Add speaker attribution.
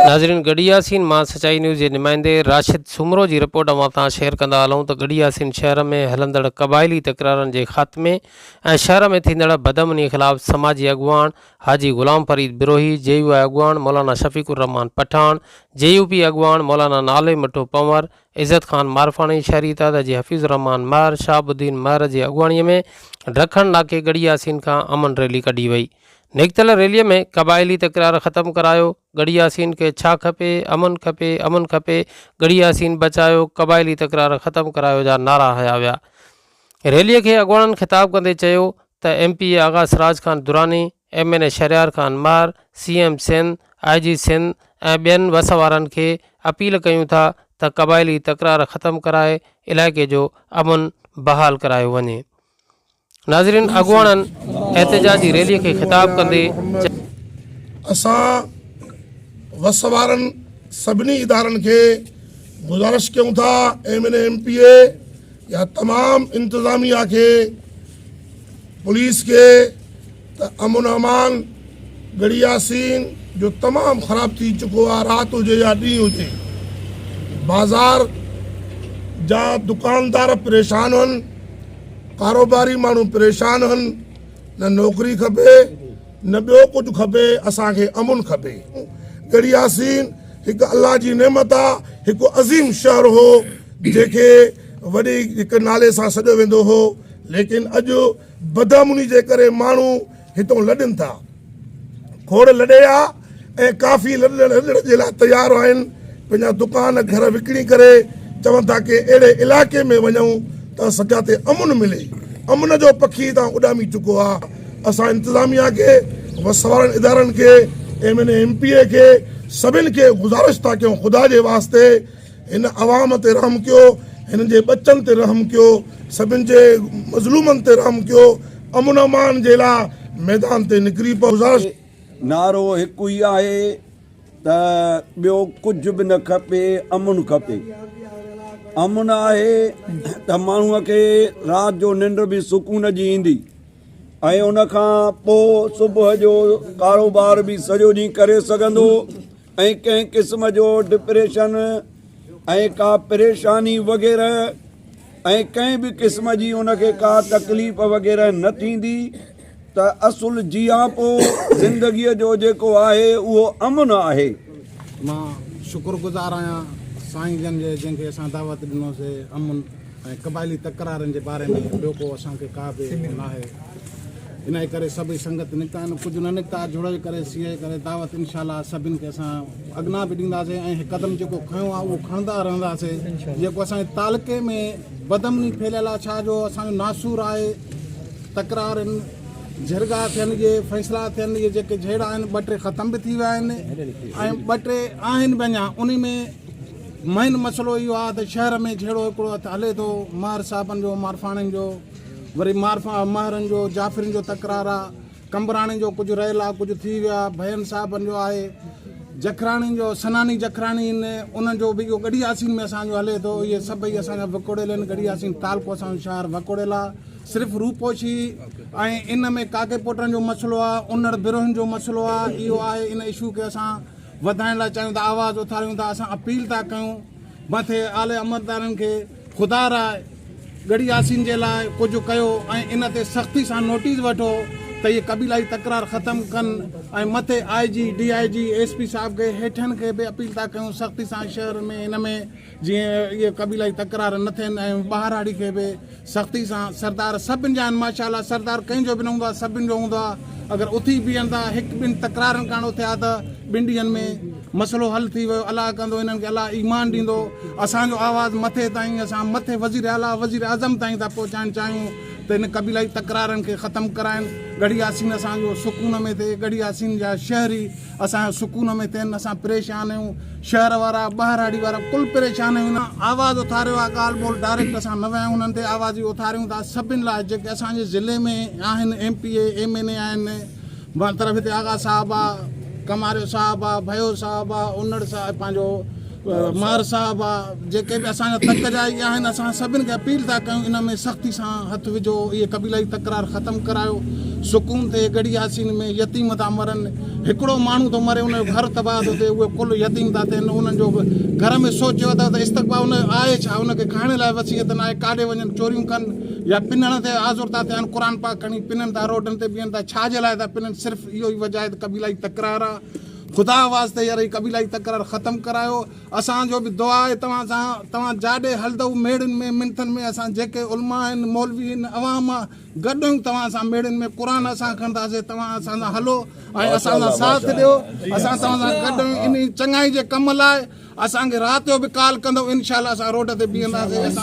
Speaker 1: ناظرين گڙهي ياسين مان سچائي نيوز جي نمائندي راشد سومرو جي رپورٽ اوهان سان شيئر ڪندا هلون ته گڙهي ياسين شهر ۾ هلندڙ قبائلي تڪرارن جي خاتمي ۽ شهر ۾ ٿيندڙ بدامني خلاف سماجي اڳواڻ حاجي غلام فريد بروهي، جي يو آء اڳواڻ Maulana Shafiq Rahman Pathan, J U P اڳواڻ مولانا نالي مٺو پنور، عزت خان مارفاڻي، شهري اتحاد جي حفيظ الرحمان مهر، شهاب الدين مهر جي اڳواڻي ۾ ڊکڻ ناڪي ڳڙهي ياسين کان امن ريلي ڪڍي وئي. نڪتل ريلي ۾ قبائلي تڪرار ختم ڪرايو، ڳڙهي ياسين کي ڇا کپي، امن کپي، امن کپي، ڳڙهي ياسين بچايو، قبائلي تڪرار ختم ڪرايو جا نعرا هنيا ويا. ريلي کي اڳواڻن خطاب ڪندي چيو ته M P A Agha Siraj Khan Durrani, M N A Shahryar Khan Mahar, C M Sindh, آء جي سنڌ ۽ ٻين وس وارن کي اپيل ڪيون ٿا ته قبائلي تڪرار ختم ڪرائي علائقي جو امن بحال ڪرايو وڃي. ناظرين اڳواڻن احتجاجي ريلي کي خطاب ڪندي چيو.
Speaker 2: اسان وس وارن سڀني ادارن کي گذارش ڪيون ٿا M N A M P A يا تمام انتظاميه کي پوليس کي ته امن امان گڙيا سين جو تمام خراب ٿي چڪو آ رات هجي يا ڏينهن هجي بازار جا دڪاندار پريشان هن ڪاروباري ماڻهو پريشان هن نه نوڪري کپي نه ٻيو ڪجهه کپي اسان کي امن کپي. ڳڙهي ياسين هڪ الله جي نعمت آ هڪ عظيم شهر هو جنهن کي وڏي هڪ نالي سان سڏيو ويندو هو ليڪن اڄ بدامني جي ڪري ماڻهو هتون لڏن ٿا کوڙ لڏي آ. ۽ ڪافي لڏڻ رڏڻ جي لاء تيار آهن، پنهنجا دڪان گهر وڪڻي ڪري چون ٿا ڪي اهڙي علائقي ۾ وڃون ته اسان جاتي امن ملي، امن جو پکي هتان اڏامي چڪو آ، اسان انتظاميا کي وسوارن ادارن کي M N A M P A کي سڀن کي گذارش ٿا ڪيون خدا جي واسطي هن عوام تي رحم ڪيو هنن جي ٻچن تي رحم ڪيو سڀن جي مظلومن تي رحم ڪيو امن امان جي لا ميدان تي نڪري پئو گذارش نعرو
Speaker 3: هڪ ئي آهي ته ٻيو ڪجهه به نه کپي امن کپي امن آهي ته ماڻهوء کي رات جو ننڊ به سڪون جي ايندي ۽ ان کان پوء صبح جو ڪاروبار به سڄو ڏينهن ڪري سگهندو ۽ ڪنهن قسم جو ڊپريشن ۽ ڪا پريشاني وغيره ۽ ڪنهن به قسم جي ان کي ڪا تڪليف وغيره نه ٿيندي ته اصل جياپو زندگيء جو جيڪو آهي اهو امن آهي. مان
Speaker 4: شڪر گذار آهيان سائين جن جي جن کي اسان دعوت ڏنو سي امن ۽ قبائلي تڪرارن جي باري ۾ ٻيو ڪو اسان کي ڪا به ناهي انهي ڪري سڀئي سنگت نڪتا آهن ڪجهه نه نڪتا جڙئي ڪري سيئي ڪري دعوت انشاء الله سڀن کي اسان اڳنا به ڏيندا سي ۽ هي قدم جيڪو کنيو آهي اهو کڻندا رهندا سي جيڪو اسان جي تعلقي ۾ بدامني ڦهليل آهي ڇا جو اسان جو ناسور آهي تڪرارن، جهرڳا ٿين جي فيصلا ٿين اهي جيڪي جهيڙا آهن ٻه ٽي ختم به ٿي ويا آهن ۽ ٻه ٽي آهن به اڃا انهي ۾ مين مسئلو اهو آهي ته شهر ۾ جهيڙو هڪڙو هٿ هلي ٿو مهر صاحبن جو مارفاڻين جو وري مارفا مهرن جو جعفرين جو تڪرار آهي قمبراڻين جو ڪجهه رهيل آهي ڪجهه ٿي ويا ڀين صاحبن جو آهي جکراڻين جو سناني جکراڻي آهن انهن جو به اهو ڳڙهياسين ۾ اسان جو هلي ٿو اهي سڀئي اسان جا وڪوڙيل آهن ڳڙهياسين تعلقو اسان جو شهر وڪوڙيل آهي صرف روپوشي ۽ ان ۾ ڪاڪي پوٽن جو مسئلو آ انڙ برهن جو مسئلو آ اهو آهي ان اشو کي اسان وڌائڻ لاء چاهيون ٿا آواز اٿاريون ٿا اسان اپيل ٿا ڪيون مٿي آلي امردارن کي خدا را ڳڙي آسين جي لاء ڪجهه ڪيو ۽ ان تي سختي سان نوٽيس وٺو ته اهي قبيلائي تڪرار ختم ڪن ۽ مٿي I G D I G S P صاحب کي هيٺن کي به اپيل ٿا ڪيون سختي سان شهر ۾ ان ۾ جيئن اهي قبيلائي تڪرار نه ٿين ۽ ٻهراڙي کي به سختي سان سردار سڀن جا آهن ماشاءالله سردار ڪنهن جو به نه هوندو آهي سڀن جو هوندو آهي اگر اٿي بيهن ٿا هڪ ٻن تڪرارن ڪارڻ اٿيا ته ٻن ڏينهن ۾ مسئلو حل ٿي ويو الله ڪندو هنن کي الله ايمان ڏيندو اسان جو آواز مٿي تائين اسان مٿي وزير اعليٰ وزير اعظم تائين ٿا پهچائڻ چاهيون ته هن قبيلائي تڪرارن کي ختم ڪرائن ڳڙهي ياسين اسان جو سڪون ۾ ٿئي ڳڙهي ياسين جا شهري اسان جو سڪون ۾ ٿين اسان پريشان آهيون شهر وارا ٻهراڙي وارا ڪل پريشان آهيون آواز اٿاريو آهي ڳالهه ٻولهه ڊائريڪٽ اسان نه ويا آهيون انهن تي آوازي اٿاريون ٿا سڀن لاء جيڪي اسان جي ضلعي ۾ آهن M P A M N A آهن بان طرف هتي آغا صاحب آهي ڪماريو صاحب آهي ڀيو صاحب آهي انڙ صاحب پنهنجو ماهر صاحب آ جيڪي به اسان جا تڪ جا اهي آهن اسان سڀن کي اپيل ٿا ڪيون ان ۾ سختي سان هٿ وجهو اهي قبيلائي تڪرار ختم ڪرايو سڪون ٿئي گڙهي ياسين ۾ يتيم ٿا مرن هڪڙو ماڻهو ٿو مري ان جو گهر تباهه ٿو ٿئي اهي ڪل يتيم ٿا ٿين انهن جو به گهر ۾ سوچيو اٿو ته استقبا ان آهي ڇا ان کي کائڻ لاء وصيت نه آهي ڪاڏي وڃن چوريون ڪن يا پنڻ تي آزور ٿا ٿين قرآن پاڪ کڻي پنن ٿا روڊن تي بيهن ٿا ڇا جي لاء ٿا پنن صرف اهو ئي وجهه آهي ته قبيلائي تڪرار آ خدا واسطي يار هي قبيلائي تڪرار ختم ڪرايو اسان جو به دعا آهي توهان سان توهان جاڏي هلدؤ ميڙين ۾ منٿن ۾ اسان جيڪي علماء آهن مولوي آهن عوام مان گڏ آهيون توهان سان ميڙين ۾ قرآن اسان کڻنداسين توهان اسان سان هلو ۽ اسان سان ساٿ ڏيو اسان توهان سان گڏ آهيون انهي چڱائي جي ڪم لاء اسان کي رات جو به ڪال ڪندؤ انشاء الله اسان روڊ تي بيهنداسين